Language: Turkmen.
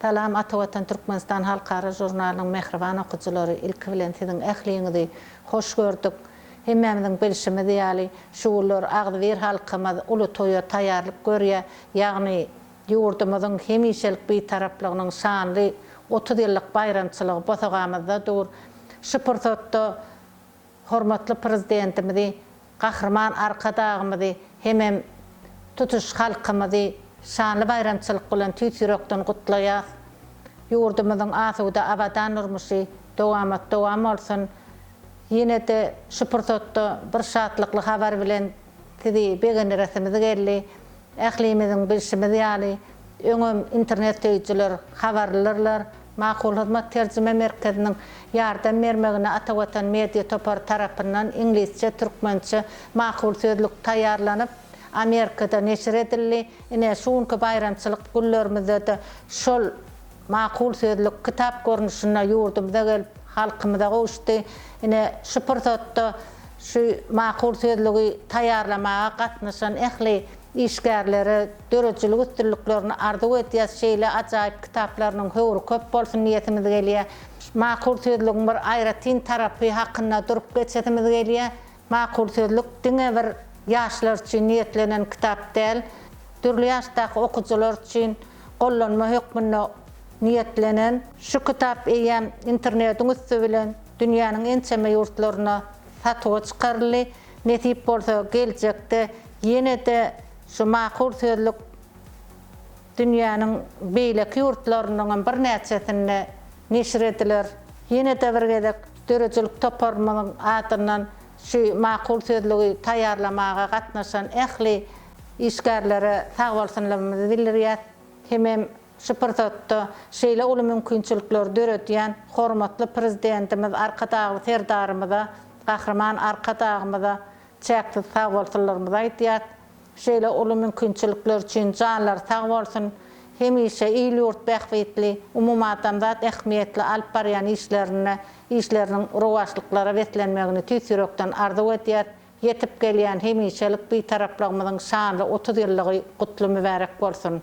Salam Ata Watan Türkmenistan halkara žurnalynyň mähriban okyjylary ilki bilen siziň ähliňizi hoş gördük. Hemmämiziň bilşimiz ýaly şu günler agzybir halkymyz uly toýa taýýarlyk görýär ýagny ýurdumyzyň hemişelik Bitaraplygynyň şanly otuz ýyllyk baýramçylygy bosagamyzda dur. Şu pursatda hormatly Prezidentimizi, Gahryman Arkadagymyzy hemem tutuş halkymyzy şanly baýramçylyk bilen tüýs ýürekden gutlaýas. Ýurdumyzyň asuda, abadan durmuşy dowamat-dowam bolsun! Ýene-de şu pursatda bir şatlykly habar bilen sizi begendiresimiz geldi. Ählimiziň bilşimiz ýaly, öňem internet söýüjiler habarlydyrlar. Makul Hyzmat terjime merkeziniň ýardam bermegine Ata Watan media topary tarapyndan iňlisçe, türkmençe makul sözlük taýýarlanyp, Amerikada neşir edildi. Ine, şu günki baýramçylyk günlerimizde-de şol. Makul sözlük kitap görnüşinde ýurdumyza gelip, halkymyza gowuşdy. Ine, şu pursatda şu makul sözlügi taýýarlamaga gatnaşan ähli işgärlere döredijilik üstünliklerini arzuw edýäs, şeýle ajaýyp kitaplarynyň höwri köp bolsun diýesimiz gelýär. Makul sözlügiň bir aýratyn tarapy hakynda durup geçesimiz gelýär. Makul sözlük diňe bir ýaşlar üçin niýetlenen kitap däl, dürli ýaşdaky okyjylar üçin gollanma hökmünde niýetlenen. Şu kitap eýýäm internetiň üsti bilen dünýäniň ençeme ýurtlarynda satuwa çykaryldy. Nesip bolsa, geljekde ýene-de şu Makul sözlük Dünýäniň beýleki ýurtlarynyň hem birnäçesinde neşir ediler. Ýene-de bir gezek döredijilik toparymyzyň adyndan şu makul sözlügi taýýarlamaga gatnaşan ähli işgärlere sagbolsunlygymyzy bildirýäs, hemem şu pursatda şeýle uly mümkinçilikleri döredýän hormatly Prezidentimiz Arkadagly Serdarymyza, Gahryman Arkadagymyza Çäksiz sag bolsunlarymyzy aýdýas. Şeýle uly mümkinçilikler üçin janlary sag bolsun. Hemişe il-ýurt bähbitli, umumadamzat ähmiýetli alyp barýan işlerinde işleriniň rowaçlyklara beslenmegini tüýs ýürekden arzuw edýäs. Ýetip gelýän hemişelik Bitaraplygymyzyň şanly otuz ýyllygy gutly mübärek bolsun!